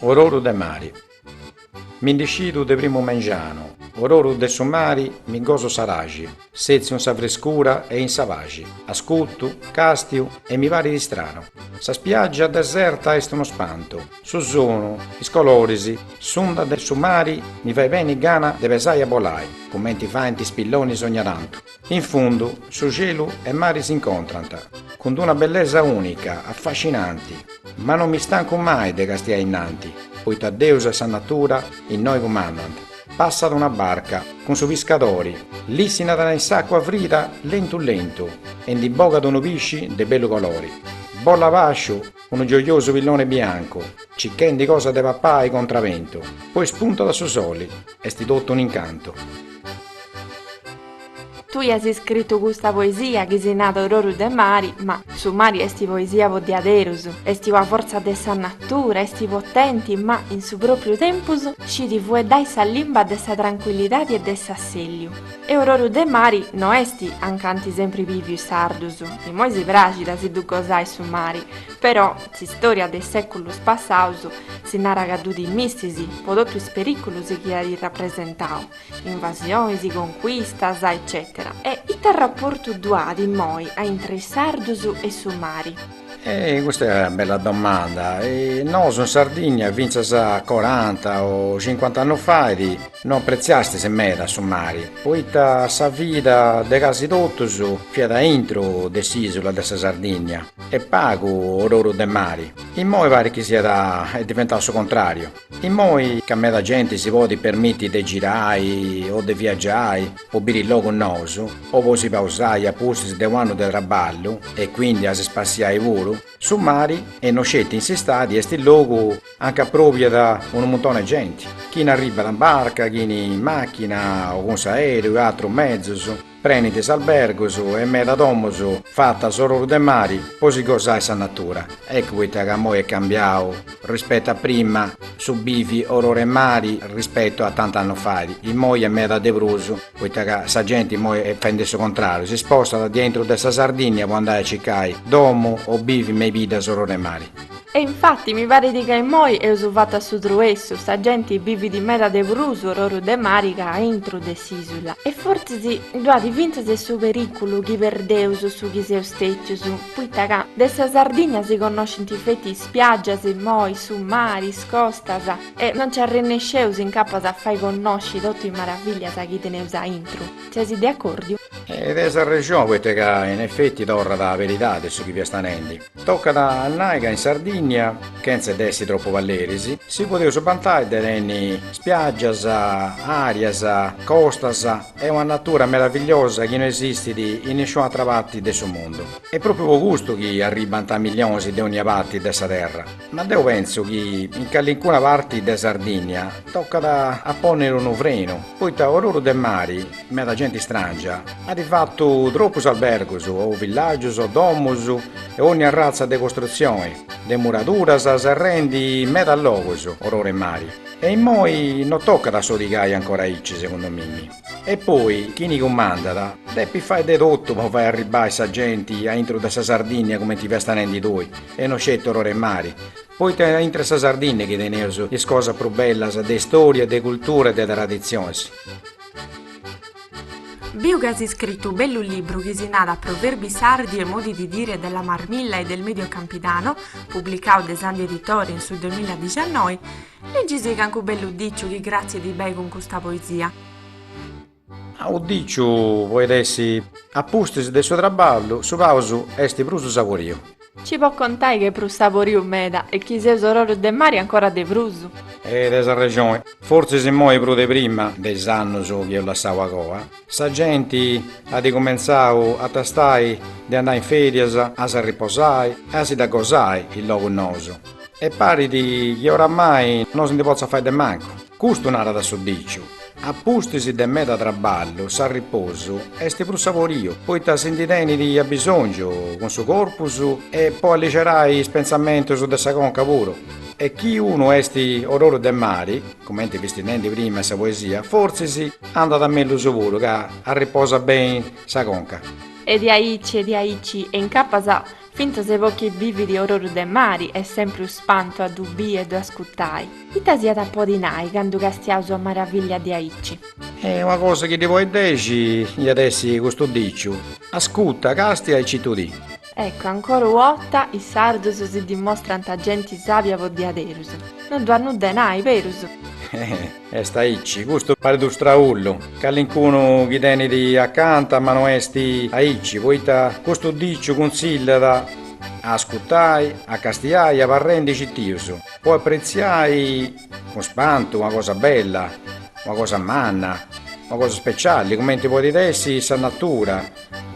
Ororu de mari Mi ndi scidu de primu mengianu, ororu de su mari mi goso s'araxi, setziu in sa frescura e in sa paxi, ascutu, castiu e mi parit istranu. Sa spiaggia deserta est unu spantu, su sonu, is coloris, s'unda de su mari mi fait benni gana de pesai e bolai, cumenti faint is pillonis ogna tantu. In fundu, su celu e mari s'incontrant, cun d'una bellesa unica, affascinanti, ma non mi stancu mai de castiai innanti, poita Deus e sa natura innoi cumandant, passat una barca, cun su piscadori, lissinat in s'acua frida lentu lentu e ndi bogat unu pisci de bellu colori, bolat a basciu unu gioiosu pilloni biancu, cichendi cosa de papai contra bentu, poi spuntat su soli, est totu un'incantu. Tui as iscritu custa poesia chi si narat Ororu de mari, ma su mari esti poesia po diaderus, esti una fortza de sa natura, esti potenti ma, in su propriu tempus, scit fueddai sa limba de sa tranquillidadi e de s'asselliu. E ororu de mari no esti anca ant sempri biviu is sardus, imoi si praxit a si ddu gosai su mari, però, S'istòria de is sèculos passados si narat ca ddu timistis po totu is perìculos chi at rapresentau, invasionis, concuistas, eccètera. E ita raportu ddu at immoi a intre is sardus e su mari? E custa est una bella domanda. Nosu in Sardigna fintzas coranta o cincuant'annus fait no apretziastis meda su mari, poita sa vida de casi totus fiat aintru de s'ìsula de sa Sardigna. E pagu ororu de mari. Immoi parit chi siat diventau su contrariu. Immoi ca meda genti si podit permiti de girai o de viagiai po biri logus nous o po si pausai a pustis de u'annu de traballu e quindi a si spassiai puru, su mari e no sceti in s'istadi est logu anca aprobiat unu muntoni de genti, chini arribat in barca, chini in machina o cun s'aereu e atrus mezus. Prenint is albergus e meda domus fatas ororu de mari po si gosai sa natura. Eccu poita ca moi est cambiau rispetu a prima su bivi oru 'e mari rispetu a tanti annus fait. Imoi est meda de prus poita ca sa genti imoi est fendi su contrariu, si spostat de aintru de sa Sardinnia po andai a circai domu o bivi me is biddas oru 'e mari. E infatti mi parit ca immoi eus fatu a su truessu, sa genti bivit meda de prus ororu de mari ca a intru de s'isula, e fortzis ddu at fintzas su periculu chi perdeus su chi seus stetius, poita ca de sa Sardigna si connoscint feti is spiaggias immoi, su mari, is costas, e no nci arrennesceus incapas a fai connosci totu is maravillias chi teneus a intru. Ses de accordiu? Eja tenis arrexoni, poita ca in effetti torrat a beridadi su chi fiast narendi. Tocat a nai ca in Sardìnnia, chentza de essi tropu palleris, si podeus bantai de tenni spiaggias, àrias, costas e una natura meravigliosa chi no esistit in nisciuna atra parti de su mundu. Est pròpriu po custu chi arribant millionis de ònnia parti de sa terra. Ma deu pentzu chi in callincuna parti de Sardìnnia tocat a pònniri unu frenu, poita oruru de mari Meda genti istràngia at fatu tropus albergus o villàgius o domus e ònnia arratza de costrutzioni, de muraduras serrendi medas logus ororu 'e mari e immoi no tocat a sodigai ancora aici segundu mimi. E poi chini cumandat depit fai de totu po fai arribbai sa genti a intro de sa Sardìnnia cumenti fiast nendi tui e no sceti ororu 'e mari, poita a intr'e sa Sardìnnia chi teneus is cosas prus bellas de istoria, de cultura e de traditzionis. Biu ca as scritu u bellu libru chi si narat Proverbi sardi e modi di dire della Marmilla e del Medio Campidano, publicau de Sandhi Editore in su duemiladiciannoi, leggisi cancu bellu diciu chi cratzit bei cun custa poesia. U diciu poit essi a pustis de su traballu, su pàusu est prus saboriu. Ci pois contai ch'est prus saboriu meda e chi seus ororu de mari ancora de prus. E tenis arrexoni, fortzis immoi prus de prima de is annus chi eus lassau a coa, sa genti at cumentzau a tastai de andai in ferias a s'arriposai e a si dda gosai in logus nous e parit chi oramai no si ndi potzat fai de mancu. Custu narat su diciu, a pustis de meda traballu s'arriposu est prus saboriu, poita si ndi tenit abisòngiu cun su corpus e po alligerai is pentzamentus de sa conca puru. E chi unu est ororu de mari, cumenti fisti nendi prima in sa poesia, fortzis andat mellus puru ca arriposat beni sa conca. Est diaici est diaici e incapas Fintzas po chi bivit ororu de mari est sempri u spantu a ddu bì e ddu ascutai. Ita s'iat a podi nai candu castiaus una maravillia diaici. E una cosa chi ddi podit dexi iat essi custu diciu, Ascuta, castia e citudì. Eccu, ancora u'ota, is sardus si dimostrant genti sàbia po diaderus. No ddu at nudda 'e nai, berus? Est aici, custu parit u straullu, calincunu chi tenit acanta ma no est aici, poita custu diciu cunzillat a ascutai, a castiai e abarrendi citius, po apretziai cun spantu una cosa bella, una cosa manna, una cosa speciali, cumenti podit essi sa natura,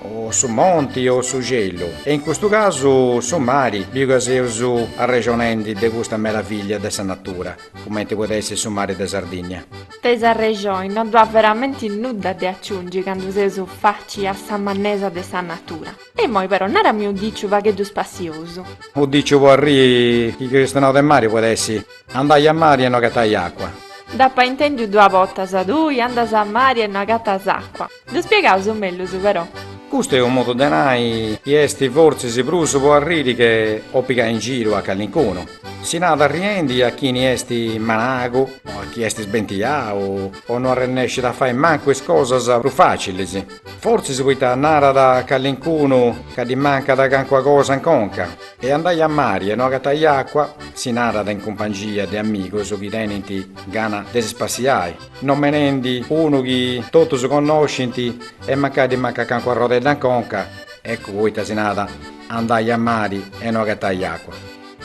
o su monti o su cielu, e in custu casu su mari, biu ca seus arrexonendi de custa meravillia de sa natura. Cumenti podet essi su mari de Sardinnia. Tenis arrexoni no ddu at veramenti nudda de aciungi candu seus faci a sa mannesa de sa natura. E immoi però narami u diciu pagheddu spassiosu. U diciu po arriri chi cristionaus de mari podet essi, andai a mari e no agatai acua. Dd'apa intendiu dua botas, tui andas a mari e no agatas acua. Ddu spiegaus mellus però. Custu est unu modu de nai chi est fortzis prus po arriri che po pigai in giru a calincunu. Si narat arriendi a chini est managu, a chi est sbentiau o no arrennescit a fai mancu is cosas prus facilis, fortzis poita narat a calincunu ca ddi mancat cancuna cosa in conca. E andai a mari e no agatai acua, si narat in cumpangia de amigus chi tenint gana de si spassiai. nomenendi unu chi totus connoscint e mancai ddi mancat cancu arrodedda in conca, eccu poita si narat, andai a mari e no agatai acua.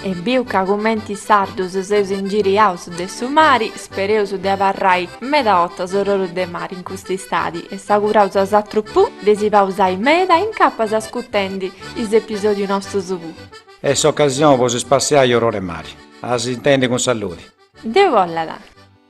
E biu ca cumenti is sardus seus ingiriaus de su mari, spereus de abarrai meda 'ottas orroru de mari in custa istadi e s'auguraus a 'osatrus pù de si pausai meda e incapas ascutendi is episodiu nostus pù. Est s'ocasioni po si spassiai orror'e mari. A si intendi cun saludi. Deus bollat.